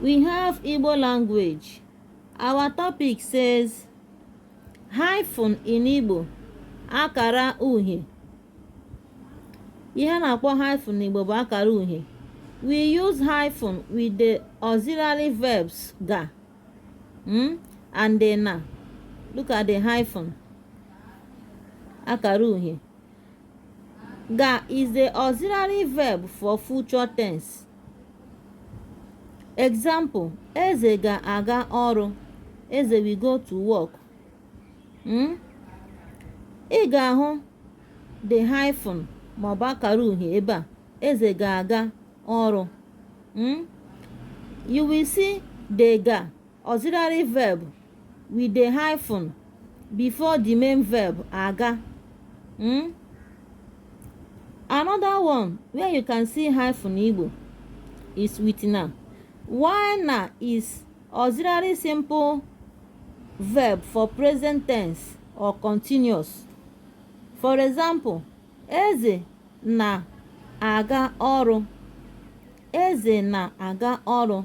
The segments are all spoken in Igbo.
We have Igbo language. Our topic says hyphen in Igbo akara uhie. Ihe a na-akpọ hyphen n'Igbo bụ akara uhie. We use hyphen with the auxiliary verbs ga mm, and the na. Look at the hyphen. Akara uhie. Ga is the auxiliary verb for future tense. Example, Eze ga-aga ọrụ. Eze will go to work. Hmm? Ị ga-ahụ the hyphen ma ọ bụ akara uhie ebe a. Eze ga-aga ọrụ. Hmm? You will see the ga auxiliary verb with the hyphen before the main verb aga mm? another one where you can see hyphen igbo is with na while na is auxiliary simple verb for present tense or continuous for example eze na-aga ọrụ eze na-aga ọrụ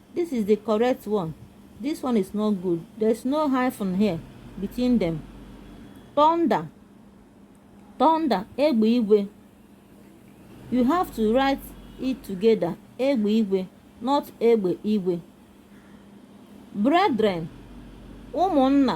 this is the correct one this one is not good there's no hyphen here between them thunder thunder egbe igwe you have to write it together egbe igwe not egbe igwe brethren ụmụnna